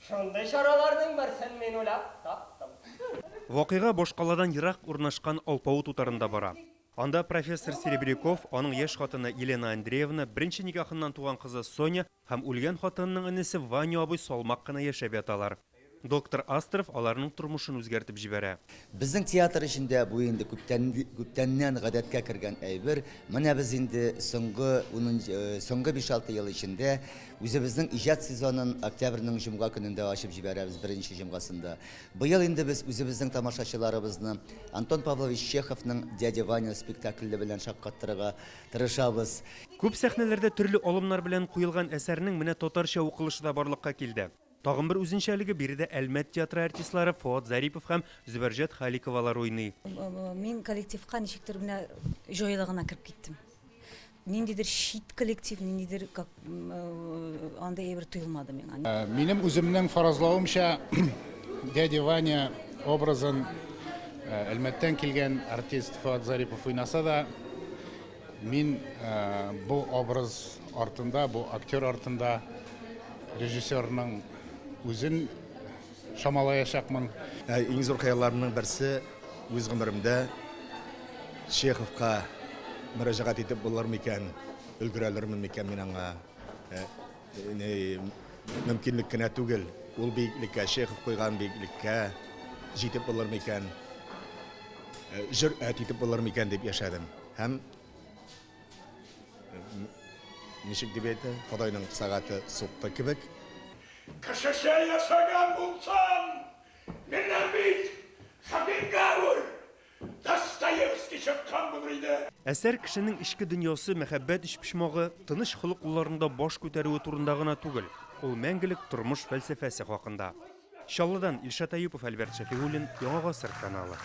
Шундый чараларның берсен мин уйлап таптым. Вакыйга башкаладан ерак урнашкан алпавыт утарында бара. Анда профессор Серебряков, аның яшь хатыны Елена Андреевна, беренче никахыннан туган кызы Соня һәм үлгән хатынының энесе Ваня абый салмак кына яшәп яталар. Доктор Астров аларның тормышын үзгәртеп җибәрә. Безнең театр өчен дә бу инде күптән, күптәннән гадәткә кергән әйбер. Менә без инде соңгы, э, соңгы 5-6 ел эчендә үзебезнең иҗат сезонын октябрьнең җомга көнендә ачып җибәрәбез, беренче җомгасында. Быел инде без үзебезнең тамашачыларыбызны Антон Павлович Чеховның Дядя Ваня спектакле белән шаккаттырырга тырышабыз. Күп сәхнәләрдә төрле алымнар белән куелган әсәрнең менә татарча укылышы да барлыкка килде. Тагын бер үзенчәлеге, биредә Әлмәт театры артистлары Фоат Зарипов һәм Зөбәрҗәт Халиковалар уйный. Мин коллективка ничектер менә җайлы гына кереп киттем. Ниндидер чит коллектив, ниндидер как андый әйбер тоелмады миңа. Минем үземнең фаразлавымча, дядя Ваня образын Әлмәттән килгән артист Фоат Зарипов уйнаса да, Мин бу образ артында, бу актер артында режиссерның үзен чамалаячакмын. Иң зур хыялларымның берсе, үз гомеремдә Чеховка мөрәҗәгать итеп булыр микән, өлгерәлермен микән мин аңа? Мөмкинлек кенә түгел, ул биеклеккә, Чехов куйган биеклеккә җитеп булыр микән, җөрьәт итеп булыр микән дип яшәдем. Һәм, ничек дип әйтә, Ходайның сәгате сукты кебек. Кешечә яшәгән булсам, менә бит хәкимгә үл, Достоевский чыккан булыр иде! Әсәр кешенең эчке дөньясы, мәхәббәт өчпочмагы, тыныч холыклыларында баш күтәрүе турында гына түгел, ул мәңгелек тормыш фәлсәфәсе хакында. Чаллыдан Илшат Әюпов, Альберт Шәфигуллин, Яңа гасыр каналы.